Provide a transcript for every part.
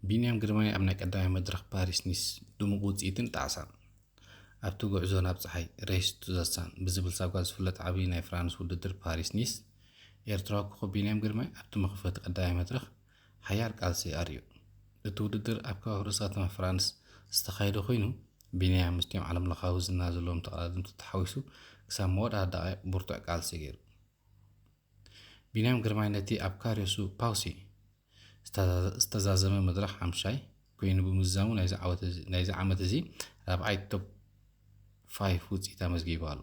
ቢንያም ግርማይ ኣብ ናይ ቀዳማይ መድረኽ ፓሪስ ኒስ ድሙቕ ውፅኢትን ጣዕሳን ኣብቲ ጉዕዞ ናብ ፀሓይ ሬስ ቱ ዘ ሳን ብዝብል ሳጓ ዝፍለጥ ዓብዪ ናይ ፍራንስ ውድድር ፓሪስ ኒስ ኤርትራዊ ኮኸብ ቢንያም ግርማይ ኣብቲ መኽፈቲ ቀዳማይ መድረኽ ሓያል ቃልሲ ኣርእዩ እቲ ውድድር ኣብ ከባቢ ርእሰ ከተማ ፍራንስ ዝተኻየደ ኮይኑ ቢንያም ምስቲኦም ዓለምለኻዊ ዝና ዘለዎም ተቐዳደምቲ ተሓዊሱ ክሳብ መወዳእታ ደቓይቕ ብርቱዕ ቃልሲ ገይሩ ቢንያም ግርማይ ነቲ ኣብ ካርዮሱ ፓውሲ ዝተዛዘመ መድረኽ ሓምሻይ ኮይኑ ብምዝዛሙ ናይዚ ዓመት እዚ ራብዓይ ቶፕ ፋይፍ ውፅኢት ኣመዝጊቡ ኣሎ።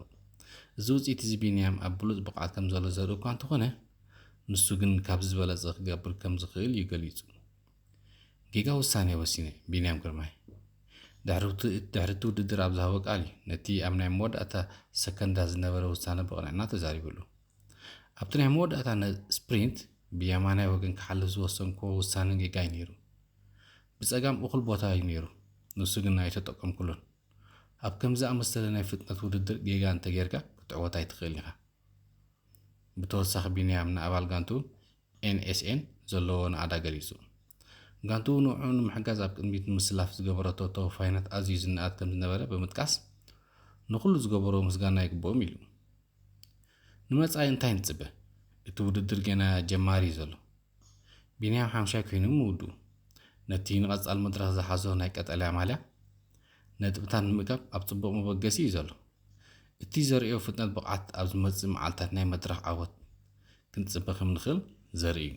እዚ ውፅኢት እዚ ቢንያም ኣብ ብሉፅ ብቕዓት ከም ዘሎ ዘርኢ እኳ እንተኾነ ንሱ ግን ካብዚ ዝበለፀ ክገብር ከም ዝኽእል እዩ ገሊፁ። ጌጋ ውሳኔ ወሲነ፣ ቢንያም ግርማይ ድሕሪ እቲ ውድድር ኣብ ዝሃቦ ቃል እዩ ነቲ ኣብ ናይ መወዳእታ ሰከንዳት ዝነበረ ውሳነ ብቕንዕና ተዛሪብሉ። ኣብቲ ናይ መወዳእታ ስፕሪንት ብየማናይ ወገን ክሓልፍ ዝወሰንክዎ ውሳነ ጌጋ እዩ ነይሩ። ብጸጋም እኹል ቦታ እዩ ነይሩ፣ ንሱ ግን ኣይተጠቀምኩሉን። ኣብ ከም ዝኣመሰለ ናይ ፍጥነት ውድድር ጌጋ እንተጌርካ ክትዕወት ኣይትኽእልን ኢኻ። ብተወሳኺ ቢንያም ንኣባል ጋንቱ ኤንኤስኤን ዘለዎ ናእዳ ገሊጹ። ጋንትኡ ንዕዑ ንምሕጋዝ ኣብ ቅድሚት ንምስላፍ ዝገበረቶ ተወፋይነት ኣዝዩ ዝነኣድ ከምዝነበረ ብምጥቃስ፣ ንኹሉ ዝገበሮ ምስጋና ይግብኦም ኢሉ። ንመጻኢ እንታይ ንጽበ? እቲ ውድድር ገና ጀማሪ እዩ ዘሎ። ቢንያም ሓምሻይ ኮይኑ ምውድኡ፣ ነቲ ንቐጻሊ መድረኽ ዝሓዞ ናይ ቀጠልያ ማልያ ነጥብታት ንምእካብ ኣብ ጽቡቕ መበገሲ እዩ ዘሎ። እቲ ዘርእዮ ፍጥነት ብቕዓት ኣብ ዝመጽእ መዓልታት ናይ መድረኽ ዓወት ክንጽበ ከም ንኽእል ዘርኢ እዩ።